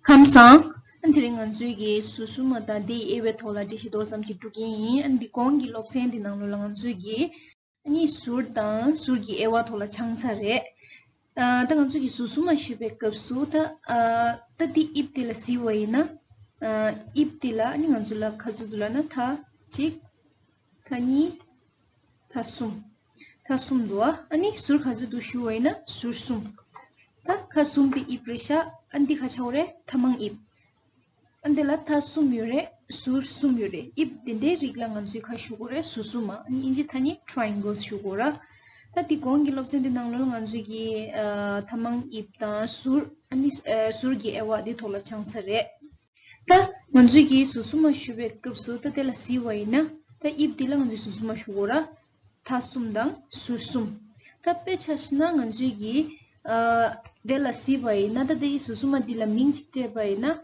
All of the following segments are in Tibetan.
ཁམས་བཟང། དེ་རིང་ང་ཚོའི་གེ་སུ་སུ་མ་དང་དེའི་དབྱེ་བའི་ཐོག་ལ་འགྲེལ་བཤད་མདོར་ཙམ་ཅིག་སྒྲུག་གིན་ཡིན། འདི་གོང་གི་སློབ་ཚན་འདི་ནང་ལོ་ལ་ང་ཚོའི་གེ། གཉིས་ཟུར་དང་ཟུར་གྱི་དབྱེ་བ་ཐོག་ལ་འཆང་ཚར་རེད། ད་ང་ཚོས་གེ་སུ་སུ་མ་ཞེས་པའི་སྐབས་སུ་ད། ད་དེའི་དབྱིབས་དེ་ལ་གཟིགས་བ་ཡིན་ན། དབྱིབས་དེ་ལ་ང་ཚོ་ལ་ག་ཚོད་འདུག་ལ་ན་ད། གཅིག། མཐའ་གཉིས། མཐའ་གསུམ། མཐའ་གསུམ་དུ་ཨ་ནི་ཟུར་ག་ཚོད་དུ་ཞུ་བ་ཡིན་ན་ཟུར་གསུམ། ད་ཁ་གསུམ་པའི་དབྱིབས་རེད་ཤག་ཨ་འདི་ཁ་ཆེ་བོ་རེད་མཐའ་མང་དབྱིབས། ཨ་འདི་ལ་མཐའ་གསུམ་ཡོད་རེད་ཟུར་གསུམ་ཡོད་རེད་དབྱིབས་དེ་འདྲའི་རིགས་ལ་ང་ཚོས་ཁ་ཞུ་དགོས་རེད་ཟུར་གསུམ་མ་ཨ་ནི་དབྱིན་ཇི་མཐའ་གཉིས Triangles ཞུ་དགོས་ར། ད་དེ་གོང་གི་སློབ་ཚན་དེ་ནང་ལོ་ལ་ང་ཚོས་ཀྱི་མཐའ་མང་དབྱིབས་དང་ཟུར་ཨ་ནི་ཟུར་གྱི་དབྱེ་བ་དེ་ཐོག་ལ་སྦྱངས་ཚར་རེད། ད་ང་ཚོས་ཀྱིས་ཟུར་གསུམ་མ་ཞུ་བའི་སྐབས་སུ་ད་དེ་ལ་གཟིགས་བ་ཡིན་ན་ད་དབྱིབས་འདི་ལ་ང་ཚོས་ཟུར་གསུམ་མ་ཞུ་གོ་ར། ད་གསུམ་དང་ཟུར་གསུམ། ད་དཔེ་ཆ་ཞིག་ན་ང་ཚོས་ཀྱིས་དེ་ལ་གཟིགས་པ་ཡིན་ན་ད་དེའི་ཟུར་གསུམ་མ་འདི་ལ་མིང་ཞིག་སྤྲད་པ་ཡིན་ན་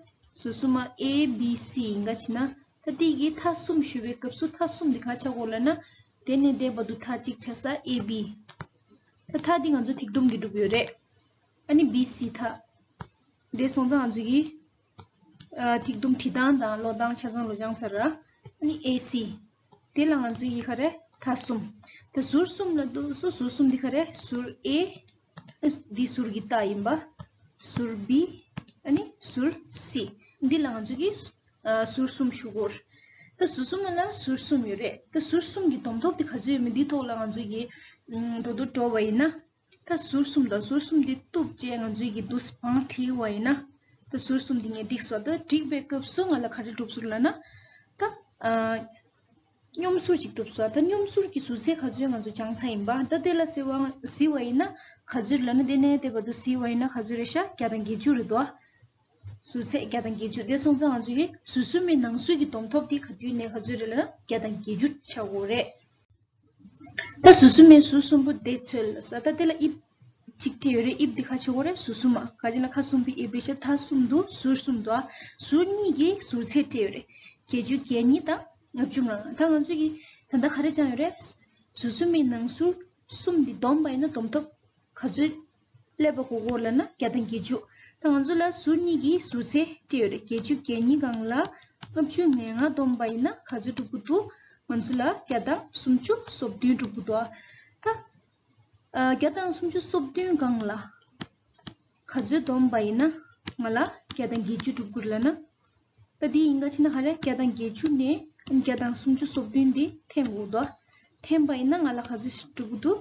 ཟུར་གསུམ་མ A B C ཡིན་ག་ཕྱིན་ན་ད་དེ་ཀྱིས་ཐ་གསུམ་ཞུ་བའི་སྐབས་སུ་ཐ་གསུམ་འདི་ག་ཆགས་གོ་ལ་ན། དེ་ནས་བསྡད་པ་འདུག་ཐ་གཅིག་ཆགས་ས A B། ད་ཐ་འདི་ང་ཚོས་ཐིག་དུམ་གྱིས་བསྒྲུབས་ཡོད་རེད། ཨ་ནི B C ཐ། འདས་སོང་ཙང་གཟིགས་ཡིན། ཐིག་དུམ་ཁྲི་དང་དང་ལོ་དང་ཆ་ཚང་ལོ་རྒྱང་ཚར་ར། ནི་ཨེ་སི། དེ་ལ་ང་ཚོའི་ཡིག་ཧ་རེ་ཐ་གསུམ། ད་ཟུར་གསུམ་ལ་འདུག་སོ་ཟུར་གསུམ་འདི་ཧ་རེ་ཟུར་ཨེ། འདི་ཟུར་གི་རྟ་ཡིན་པ། ཟུར་བི། ཨ་ནི་ཟུར་སི། འདི་ལ་ང་ཚོས་ཀྱིས། ཟུར་གསུམ་ཞུ་གོ། ད་ཟུར་གསུམ་ལ་ཟུར་གསུམ་ཡོད་རེད། ད་ཟུར་གསུམ་གྱི་དོམ་ཐོག་དེ་ག་ཚོད་ཡོད་མེད་འདི་ཐོག་ལ་ང་ཚོས་ཀྱིས། འགྲོ་འདུག་འགྲོ་བ་ཡིན་ན། ད་ཟུར་གསུམ་དང་ཟུར་གསུམ་འདི་གཏུབ་ཅེས་ང་ཚོའི་ཡི་དུས་བང་བྲིས་བ་ཡིན་ན། ད་ཟུར་གསུམ་འདི་ངས་བསྒྲིགས་སོ་ད་བསྒྲིགས་པའི་སྐབས་སུ་ང་ལ་ག་རེ་གྲུབ་ཟུར་ལ་ན། ད། སྙོམས་ཟུར་ཅིག་གྲུབ་སོ་ད་སྙོམས་ཟུར་གྱི་ཟུར་ཚད་ག་ཚོད་ང་ཚོ་བྱང་ས་ཡིན་པ་ད་དེ་ལ་བསྲི་བ་བཟི་བ་ཡིན་ན་ག་ཚོད་ལ་ན་དེ་ནས་དེ་བར་དུ་བསྲི་བ་ཡིན་ན་ག་ཚོད་རེད་ཤ་བརྒྱ་དང་བརྒྱད་ཅུ་རེད་དོ། ཟུར་ཚད་བརྒྱ་དང་བརྒྱད་ཅུ་དེ་སོང་ཙང་ང་ཚོ་ཡི་ཟུར་གསུམ་མའི་ནང་ཟུར་གྱི་བསྡོམས་ཐོབ་དེ་ག་དུས་ནས་ག་ཚོད་རེད་ལ་ན་བརྒྱ་དང་བརྒྱད་ཅུ་ཆ་བོ་རེད། ད་ཟུར་གསུམ་མའི་ཟུར་གསུམ་པོ་དེ་ཚོད་ལ་ཟ་ད་དེ་ལ་དབྱིབས་གཅིག་དེ་ཡོད་རེད་དབྱིབས་དེ་ཁ་ཆེ་བོ་རེད་ཟུར་གསུམ་མ་ཁ་ཆེ་ན་ཁ་གསུམ་པོའི་དབྱིབས་རེད་ཆ་ཐ་གསུམ་འདུག་ཟུར་གསུམ་དུ་ཨ་ཟུར་གཉིས་ཀྱི་ཟུར་ཚད་སྤྲད་ཡོད་རེད་བརྒྱད་ཅུ་གྱ་གཉིས་དང་ལྔ་བཅུ་ང་ད་ང་ཚོས་ཀྱི་ད་ལྟ་ག་རེ་བཅངས་ཡོད་རེད། ཟུར་གསུམ་པའི་ནང་ཟུར་གསུམ་འདི་བསྡོམས་པ་ཡིན་ན་བསྡོམས་ཐོབ་ག་ཚོད་སླེབས་པ་གོ་གོ་ལ་ན་བརྒྱ་དང་བརྒྱད་ཅུ། ད་ང་ཚོ་ལ་ཟུར་གཉིས་ཀྱི་ཟུར་ཚད་དེ་ཡོད་རེད་བརྒྱད་ཅུ་བརྒྱད་གཉིས་གང་ལ་ལྔ་བཅུ་ངན་ལྔ་བསྡོམས་པ་ཡིན་ན་ག་ཚོད་གྲུབ་ཀི་འདུག་ང་ཚོ་ལ་བརྒྱ་དང་སུམ་ཅུ་སོ་བདུན་གྲུབ་ཀི་འདུག་ཨ། ད་བརྒྱ་དང་སུམ་ཅུ་སོ་བདུན་གང་ལ་ག་ཚོད་བསྡོམས་པ་ཡིན་ན་ང་ལ་བརྒྱ་དང་བརྒྱད་ཅུ་གྲུབ་ཀི་རེད་ལ་ན། ད་དེ་ཡིན་ག་ཕྱིན་ན་ཧ་རེ་བརྒྱ་དང་བརྒྱད་ཅུ་ནས་བརྒྱ་དང་སུམ་ཅུ་སོ་བདུན་དེ་འཐེན་གོ་འདུག་ཨ། འཐེན་པ་ཡིན་ན་ང་ལ་ག་ཚོད་ཞིག་གྲུབ་ཀི་འདུག།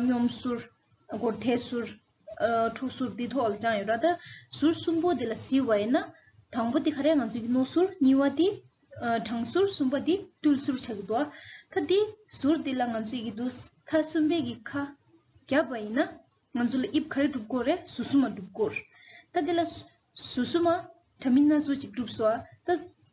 སྙོམས་ཟུར། སྒོར་ཐལ་ཟུར། འཁྲུག་ཟུར་འདི་ཐོག་ལ་བཅངས་ཡོད་ར་ད། ཟུར་གསུམ་པོ་འདི་ལ་གཟིགས་བ་ཡིན་ན། དང་པོ་འདི་ག་རེ་ང་ཚོའི་རྣོ་ཟུར་གཉིས་བ་འདི། དྲང་ཟུར་གསུམ་པ་འདི་རྟུལ་ཟུར་ཆགས་ཀྱི་འདུག་ཨ། ད་འདི་ཟུར་འདི་ལ་ང་ཚོས་ཀྱི་འདུག་ད་གསུམ་པའི་གི་ཁ། བརྒྱབ་པ་ཡིན་ན། ང་ཚོ་ལ་དབྱིབས་ག་རེ་གྲུབ་དགོས་རེད་ཟུར་གསུམ་མ་གྲུབ་དགོས། ད་འདི་ལ། ཟུར་གསུམ་མ། དྲ་མིན་སྣ་ཟུར་གཅིག་གྲུབ་སོ་ཨ། ད།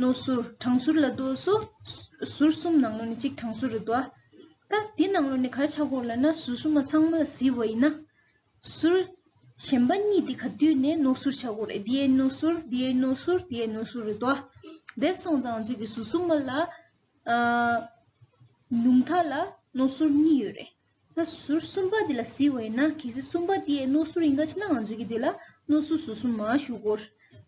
ནོ། ཟུར། གྲངས་ཟུར་ལ་དུ་སོ། ཟུར་གསུམ་ནང་ལོ་ནི་གཅིག་གྲངས་ཟུར་རུ་དུ་ཨ། ད་འདི་ནང་ལོ་ནི་གར་ཆག་གོ་ལ་ན་ཟུར་གསུམ་མ་ཚང་མ་བཟི་བ་ཡིན་ན། ཟུར། གཞན་པ་གཉིས་འདི་ག་དུས་ནས་ནོ་ཟུར་ཆག་གོ་རེ་འདི་ཨེ་ནོ་ཟུར་འདི་ཨེ་ནོ་ཟུར་འདི་ཨེ་ནོ་ཟུར་རུ་དུ་ཨ། འདས་སོང་ཙང་ཚོད་ཀྱི་ཟུར་གསུམ་མ་ལ། ཉུང་མཐའ་ལ་ནོ་ཟུར་གཉིས་ཡོད་རེད། ད་ཟུར་གསུམ་པ་འདི་ལ་བཟི་བ་ཡིན་ན་གལ་སྲིད་གསུམ་པ་འདི་ཨེ་ནོ་ཟུར་ཡིན་ག་ཕྱི་ནང་ཚོད་ཀྱི་འདི་ལ་ནོ་ཟུར་ཟུར་གསུམ་མ་བཞུགས་གོ།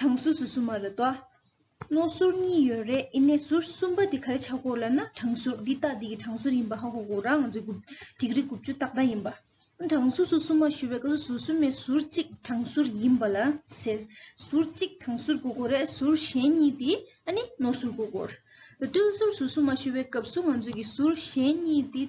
གྲངས་སུ་སུ་སུ་མ་རེད་དོ། རྣོ་ཟུར་གཉིས་ཡོད་རེད་ཨི་ནས་ཟུར་གསུམ་པ་དེ་ག་རེ་ཆགས་དགོས་ལབ་ན་གྲངས་ཟུར་འདི་ལྟ་འདི་གི་གྲངས་ཟུར་ཡིན་པ་ཧ་གོ་དགོས་རང་ཚོའི་དགུ་འགྲིག་རིགས་དགུ་བཅུ་ཏག་ཏག་ཡིན་པ། གྲངས་སུ་སུ་སུ་མ་ཞུས་པའི་སྐབས་སུ་སུ་སུ་མའི་ཟུར་གཅིག་གྲངས་ཟུར་ཡིན་པ་ལ་ཟེར། ཟུར་གཅིག་གྲངས་ཟུར་གོ་དགོས་རེད་ཟུར་གཞན་གཉིས་དེ་ཨ་ནི་རྣོ་ཟུར་གོ་དགོས། ཏུན་ཟུར་སུ་སུ་མ་ཞུས་པའི་སྐབས་སུ་ང་ཚོའི་གི་ཟུར་གཞན་གཉིས་དེ།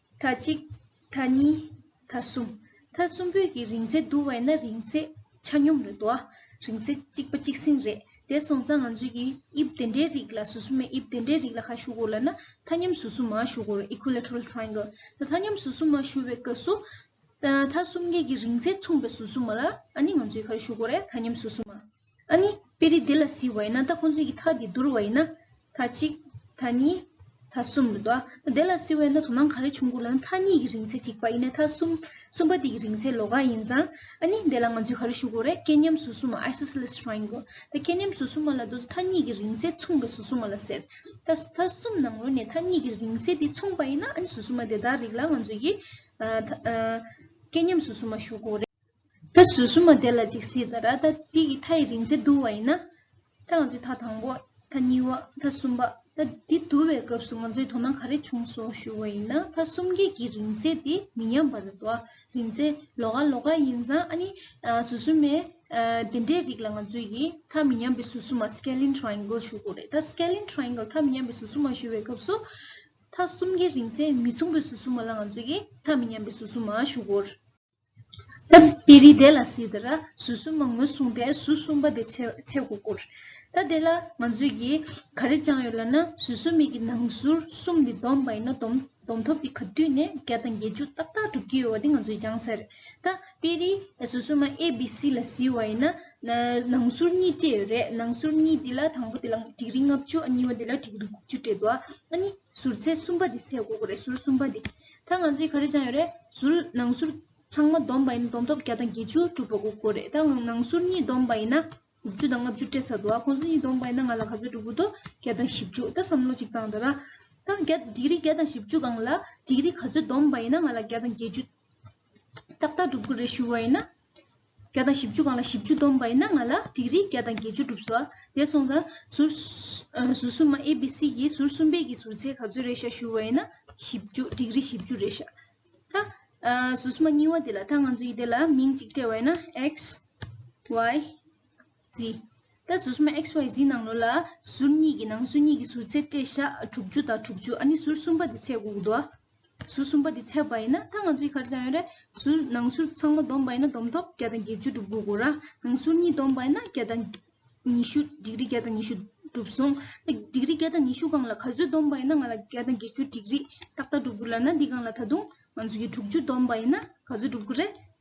མཐའ་གཅིག། མཐའ་གཉིས། མཐའ་གསུམ། མཐའ་གསུམ་པོད་ཀྱི་རིང་ཚད་བསྡུར་བས་ན་རིང་ཚད་ཆ་སྙོམས་རེད་དོ། རིང་ཚད་གཅིག་པ་གཅིག་སྲིང་རེད། དེ་སོང་ཙང་ང་ཚོས་ཀྱི་དབྱིབས་དེ་འདྲའི་རིགས་ལ་ཟུར་ཟུར་མའི་དབྱིབས་དེ་འདྲའི་རིགས་ལ་ཁ་བཤུ་དགོས་ལ་ན་མཐའ་མཉམ་ཟུར་ཟུར་མ་བཤུ་དགོས་རེད Equilateral Triangle། ད་མཐའ་མཉམ་ཟུར་ཟུར་མ་བཤུ་བའི་སྐབས་སུ། མཐའ་གསུམ་གའི་ཀྱི་རིང་ཚད་མཚུངས་པའི་ཟུར་ཟུར་མ་ལ་ཨ་ནི་ང་ཚོས་ཁ་བཤུ་དགོས་རེད་མཐའ་མཉམ་ཟུར་ཟུར་མ། ཨཱ་ནི། དཔེ་རིས་འདི་ལ་གཟིགས་བ་ཡིན་ན་ད་ཁོང་ཚོས་ཀྱི་ཐག་འདི་བསྡུར་བ་ཡིན་ན། ཐ་གཅིག། ཐ་གཉིས། ཐ་གསུམ་རེད་དོ། དེ་ལ་གཟིགས་བས་ན་དོ་སྣང་ག་རེ་བྱུང་དགོས་ལ་ན་ཐ་གཉིས་ཀྱི་རིང་ཚད་གཅིག་པ་ཡིན་ན་ཐ་གསུམ། གསུམ་པ་དེ་ཀྱི་རིང་ཚད་ལོ་ག་ཡིན་ཙང། ཨཱ་ནི། དེ་ལ་ང་ཚོས་ག་རེ་ཞུ་དགོས་རེད་སྐལ་མཉམ་ཟུར་གསུམ་མ Isosceles Triangle། ད་སྐལ་མཉམ་ཟུར་གསུམ་མ་ལ་དོ་ཐ་གཉིས་ཀྱི་རིང་ཚད་མཚུངས་པའི་ཟུར་གསུམ་མ་ལ་ཟེར། ད། ཐ་གསུམ་ནང་རོལ་ནས་ཐ་གཉིས་ཀྱི་རིང་ཚད་དེ་མཚུངས་པ་ཡིན་ན་ཨཱ་ནི་ཟུར་གསུམ་མ་དེ་དག་རིགས་ལ་ང་ཚོས་ཀྱི། ཐ། སྐལ་མཉམ་ཟུར་གསུམ་མ་ཞུ་དགོས་རེད། ད་གཟོད་སུ་མ་དེ་ལ་ཅིག་སྲིད་དང་ར་ད་དེ་ཀྱི་མཐའ་ཡི་རིང་ཚད་བསྡུ་བ་ཡིན་ན། ད་ང་ཚོས་མཐའ་དང་པོ། མཐའ་གཉིས་པ། མཐའ་གསུམ་པ། ད་དེ་བསྡུ་བའི་སྐབས་སུ་ང་ཚོས་དོ་སྣང་ག་རེ་བྱུང་སོགས་ཞུ་བ་ཡིན་ན་མཐའ་གསུམ་བརྒྱད་ཀྱི་རིང་ཚད་དེ་མི་མཉམ་པ་རེད་དོ། རིང་ཚད་ལོ་ག་ལོ་ག་ཡིན་ཙང་ཨ་ནི། ཟུར་གསུམ་མའི། དེ་འདྲའི་རིགས་ལ་ང་ཚོས་ཀྱིས་མཐའ་མི་མཉམ་པའི་ཟུར་གསུམ་མ Scalene Triangle ཞུ་དགོས་རེད་ད Scalene Triangle མཐའ་མི་མཉམ་པའི་ཟུར་གསུམ་མ་ཞུ་བའི་སྐབས་སུ། མཐའ་གསུམ་བརྒྱད་རིང་ཚད་མི་མཚུངས་པའི་ཟུར་གསུམ་མ་ལ་ང་ཚོས་ཀྱིས་མཐའ་མི་མཉམ་པའི་ཟུར་གསུམ་མ་ཞུ་དགོས། པི་རི་དེ་ལ་སི་ཏི་ར་ཟུར་གསུམ་མང་མོས་གསུངས་ཏེ་ཟུར་གསུམ་པ་དེ་ཆས་སྒོ་བསྐུར། ད་དེ་ལ་ང་ཚོས་ཀྱིས་ག་རེ་བཅངས་ཡོད་ལབ་ན་ཟུར་གསུམ་མིག་གི་ནང་ཟུར་གསུམ་དེ་བསྡོམས་པ་ཡིན་ན་བསྡོམས་ཐོབ་དེ་ག་དུས་ནས་བརྒྱ་དང་བརྒྱད་ཅུ་ཏག་ཏག་གྲུབ་ཀྱི་ཡོད་བ་དེ་ང་ཚོས་སྦྱངས་ཚར་རེད། ད་པི་རི་ཟུར་གསུམ་མ་ཨེ་བི་སི་ལ་སི་བ་ཡིན་ན་ནང་ཟུར་གཉིས་སྤྲད་ཡོད་རེད་ནང་ཟུར་གཉིས་དེ་ལ་དང་པོ་དེ་ལ་དྲིག་རིགས་ལྔ་བཅུ་གཉིས་པ་དེ་ལ་དྲིག་རིགས་དགུ་བཅུ་སྤྲད་འདུག་ཨ་ནི་ཟུར་ཚེ་གསུམ་པ་དེ་ཆས་སྒོ་བསྐུར་རེད་ཟུར་གསུམ་པ་དེ། ད་ང་ཚོའི་ག་རེ་སྦྱངས་ཡོད་རེད། ཟུར། ནང་ཟུར། ཚང་མ་བསྡོམས་པ་ཡིན་ན་བསྡོམས་ཐོབ་བརྒྱ་དང་བརྒྱད་ཅུ་དྲུག་པ་དགུ་དགུ་རེད་ད་ནང་ཟུར་གཉིས་བསྡོམས་པ་ཡིན་ན་དགུ་བཅུ་དང་ལྔ་བཅུ་སྤྲད་ས་འདུག་ཨ་ཁོང་ཚོ་གཉིས་བསྡོམས་པ་ཡིན་ན་ང་ལ་ག་ཚོད་འགྲོ་གི་འདུག་བརྒྱ་དང་བཞི་བཅུ་ད་བསམ་བློ་གཅིག་བཏང་ད་རང། ད་བརྒྱ་འགྲིག་རིགས་བརྒྱ་དང་བཞི་བཅུ་གང་ལ་འགྲིག་རིགས་ག་ཚོད་བསྡོམས་པ་ཡིན་ན་ང་ལ་བརྒྱ་དང་བརྒྱད་ཅུ་ཏག་ཏག་འགྲུབ་གི་རེད་ཞུ་བ་ཡིན་ན། བརྒྱ་དང་བཞི་བཅུ་གང་ལ་བཞི་བཅུ་སྡོམ་པ་ཡིན་ན་ང་ལ་བྲིས་རིས་བརྒྱ་དང་བརྒྱད་ཅུ་བསྒྲུབས་སོ། དེ་སོང་ཙང། ཟུར། གསུམ་མ་ཨེ་བི་སི་ཡིས་ཟུར་གསུམ་པའི་གི་ཟུར་ཚད་ག་ཚོད་རེད་ཤག་ཞུས་བ་ཡིན་ན། བཞི་བཅུ་བྲིས་རིས་བཞི་བཅུ་རེད་ཤག། ད། ཟུར་གསུམ་མ་གཉིས་བ་དེ་ལ་ད་ང་ཚོ་ཡི་དེ་ལ་མིང་གཅིག་སྤྲད་བ་ཡིན་ན། X Y། བཞི། ད་གཟུགས་སྨན་ཨེག་སི་ཝེ་ཟིའི་ནང་ལོ་ལ། ཟུར་གཉིས་ཀྱི་ནང་སོ་གཉིས་ཀྱི་ཟུར་ཚད་སྤྲད་བྱ། དྲུག་ཅུ་དང་དྲུག་ཅུ་ཨ་ནི་ཟུར་གསུམ་པ་དེ་ཚད་དགུ་དགུ་འདུག་ཨ། ཟུར་གསུམ་པ་དེ་ཚད་པ་ཡིན་ན་ད་ང་ཚོ་ཡིག་ཁ་རེ་ཙམ་ཡོད་རེད། ཟུར་ནང་ཟུར་ཚང་མ་བསྡོམས་པ་ཡིན་ན་བསྡོམས་ཐོབ་བརྒྱ་དང་བརྒྱད་ཅུ་གྲུབ་དགུ་དགུར་ཨ། ནང་ཟུར་གཉིས་བསྡོམས་པ་ཡིན་ན་བརྒྱ་དང། ཉི་ཤུ་འགྲིག་རིགས་བརྒྱ་དང་ཉི་ཤུ་གྲུབ་གསུངས། ད་འགྲིག་རིགས་བརྒྱ་དང་ཉི་ཤུ་གང་ལ་ག་ཚོད་བསྡོམས་པ་ཡིན་ན་ང་ལ་བརྒྱ་དང་བརྒྱད་ཅུ་འགྲིག་རིགས་ཏག་ཏག་གྲུབ་དགུ་ལ་ན་འདི་གང་ལ་ད་དུང་ང་ཚོ་ཡིག་དྲུག་ཅུ་བསྡོམས་པ་ཡིན་ན་ག་ཚོད་གྲུབ་དགུ་རེད།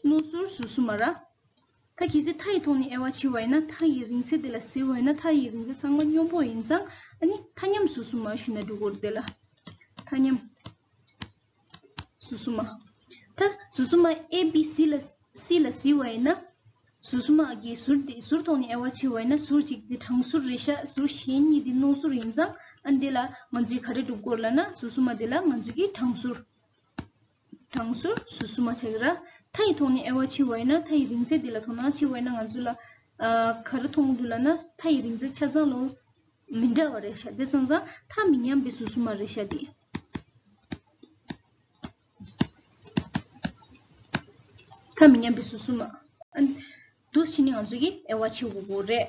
རྣོ་གཟུར་ཟུར་གསུམ་མ་ར། ད་གལ་སྲིད་མཐའ་ཡི་ཐོག་ནས་ཨེ་བ་ཕྱི་བ་ཡིན་ན་མཐའ་ཡི་རིང་ཚད་དེ་ལ་ཟེར་འོན་ན་མཐའ་ཡི་རིང་ཚད་ཚང་མ་སྙོམས་པོ་ཡིན་ཙང་ཨ་ནི་མཐའ་མཉམ་ཟུར་གསུམ་མ་ཞུས་ན་འགྲིག་གོ་དེ་ལ། མཐའ་མཉམ་ཟུར་གསུམ་མ། མཐའ་ཟུར་གསུམ་མ་ཨེ་བི་སི་ལ་སི་ལ་ཟི་བ་ཡིན་ན། ཟུར་གསུམ་མ་གི་ཟུར་དེ་ཟུར་ཐོག་ནས་ཨེ་བ་ཕྱི་བ་ཡིན་ན་ཟུར་གཅིག་དེ་དྲང་ཟུར་རེད་ཤག་ཟུར་གཞན་གཉིས་དེ་རྣོ་ཟུར་ཡིན་ཙང་ཨ་ནི་དེ་ལ་ང་ཚོས་ག་རེ་སྒྲུབ་དགོས་ལ་ན་ཟུར་གསུམ་མ་དེ་ལ་ང་ཚོས་ཀྱི་དྲང་ཟུར། གྲངས་སུ་བསུ་མ་བྱ་གི་ར། མཐའ་ཡི་ཐོག་ནས་ཨེ་བ་འཆི་བ་ཡིན་ན་མཐའ་ཡི་རིང་ཚད་འདི་ལ་དོ་སྣང་ཆེ་བ་ཡིན་ན་ང་ཚོ་ལ་ག་རེ་མཐོང་འདུག་ལ་ན་མཐའ་ཡི་རིང་ཚད་ཆ་ཚང་ལོ་མི་འདྲ་བ་རེད་ཤག་དེ་ཚང་ཚང་མཐའ་མི་མཉམ་པའི་བསུ་བསུ་མ་རེད་ཤག་དེ། མཐའ་མི་མཉམ་པའི་བསུ་བསུ་མ། འདུག་ཕྱི་ནས་ང་ཚོ་གི་ཨེ་བ་འཆི་བ་རེད།